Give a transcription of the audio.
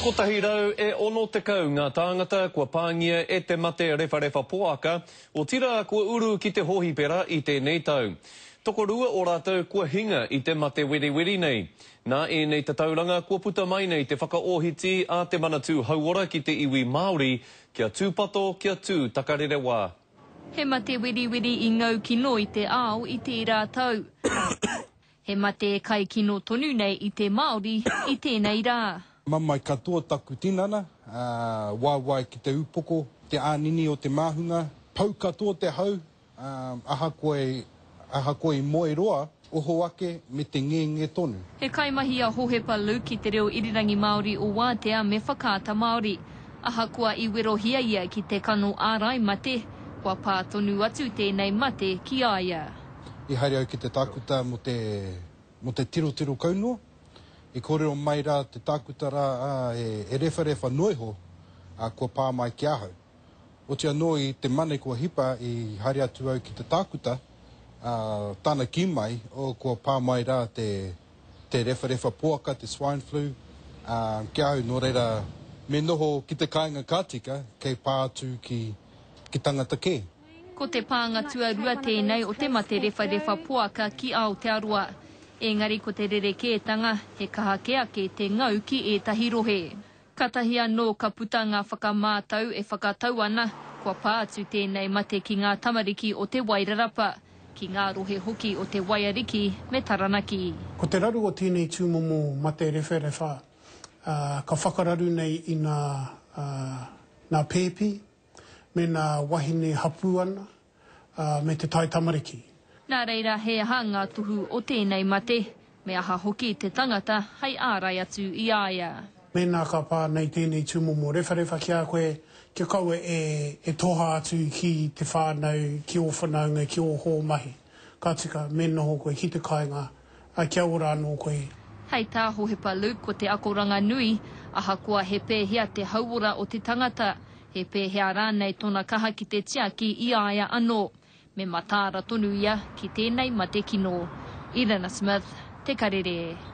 Kotahi rau e ono tekau ngā tāngata kua pāngia e te mate rewharewha poaka, otirā kua uru ki te hōhipera i tēnei tau. Tokorua o rātou kua hinga i te mate weriweri nei. Nā ēnei tatauranga kua puta mai nei te whakaōhiti a te Manatū Hauora ki te iwi Māori kia tūpato, kia tū takarerewā. He mate weriweri i ngau kino i te ao i tērā tau. He mate kai kino tonu nei i te Māori i tēnei rā. Mamae katoa taku tinana, waewae ki te upoko, te ānini o te māhunga, pau katoa te hau, ahakoa i moe roa, oho ake me te ngenge tonu. He kaimahi a Hohepa Luke i te reo irirangi Māori o Wātea me Whakaata Māori. Ahakoa i werohia ia ki te kano ārai mate, kua pā tonu atu tēnei mate ki a ia. i haere au ki te tākuta mō te, mō te tirotiro kau noa. I kōrero mai rā te tākuta rā, ā, e, e rewharewha noa iho, ā, kua pā mai ki ahau. Oti anō i te mane kua hipa i haere atu au ki te tākuta, ā, tāna kī mai, o, kua pā mai rā te, te rewharewha poaka, te swine flu, ā, ki ahau, nō reira, me noho ki te kāinga ka tika, kei pā atu ki, ki tangata kē. Ko te pānga tuarua tēnei o te mate rewharewha poaka ki Aotearoa. Ēngari ko te rerekētanga, he kaha kē ake te ngau ki ētahi rohe. Kātahi anō ka puta ngā whakamātau e whakatau ana, kua pā atu tēnei mate ki ngā tamariki o Te Wairarapa, ki ngā rohe hoki o Te Waiariki me Taranaki. Ko te raru o tēnei tūmomo mate rewharewha, ka whakararu nei i nā pēpi, mēnā wahine hapū ana, ā, me te tae tamariki. Nā reira, he aha ngā tohu o tēnei mate, me aha hoki te tangata hei ārai atu i a ia? Mēnā ka pā nei tēnei tūmomo rewharewha ki a koe, kia kaua e, e toha atu ki te whānau, ki ō whanaunga, ki ō hōmahi, ka tika, me noho koe ki te kāinga, ā, kia ora anō koe. Hei tā Hohepa Luke ko te akoranga nui, ahakoa he pēhea te hauora o te tangata, he pēhea rānei tōna kaha ki te tiaki i a ia anō, me mataara tonu ia ki tēnei mate kino. Irina Smith, Te Karere.